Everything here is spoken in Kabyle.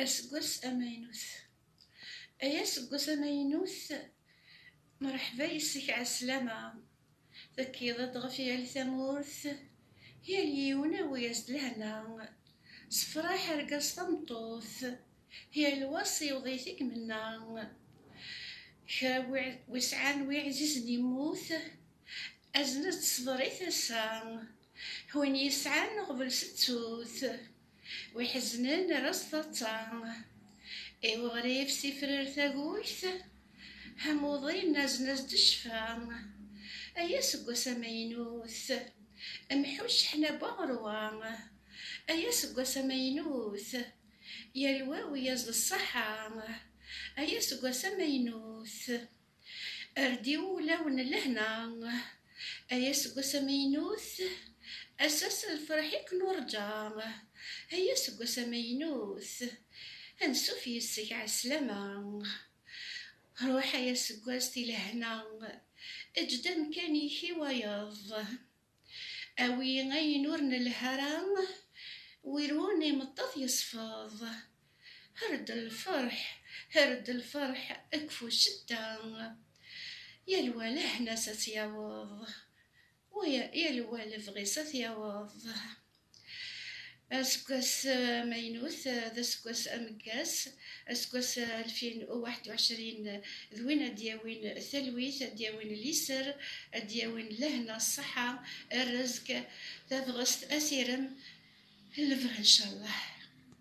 Aseggas amaynut Ay aseggas amaynut, mreḥba yis-k ɛeslama, tekkiḍ-d ɣef yal tamurt, yal yiwen awi-as-d lehna, sefraḥ argaz tameṭṭut, yal wa s iwḍi-t i ymenna, kra wi sɛan wi ɛzizen yemmut, azen-as-d ṣṣber i tasa, win yesɛan uɣbel settut. Wi iḥeznen ar as taḍsa. I uɣrib s ifrar tagut. Amuḍi nnazen-as-d ccfa. Ay aseggas amaynut. Mḥu cceḥna n waɣerwa. Ay aseggas amaynut. Yal wa wi-as d ṣṣaḥa. Ay aseggas amaynut. Err-d i wulaw n lehna, ay aseggas amaynut, ass-a s lferḥ i k-nurǧa. Ay aseggas amaynut, ad nsuf yes-k ɛeslama. Ruḥ ay aseggas di lehna, eǧǧ-d amkan-ik i wayeḍ. Awi ayen ur nelhi ara, wirun imeṭṭaf yesfeḍ. Herd lferḥ, herd lferḥ, kfu ccedda. Yal wa lehna-s a t-yaweḍ, yal wa lebɣi-s a t-yaweḍ. Aseggas amaynut d aseggas ameggas, aseggas alfin u waḥed u ɛecrin, d win ad d-yawin talwit, ad d-yawin liser, ad d-yawin lehna, ṣṣeḥḥa, rrezg, tabɣest, asirem, lebɣi ncallah.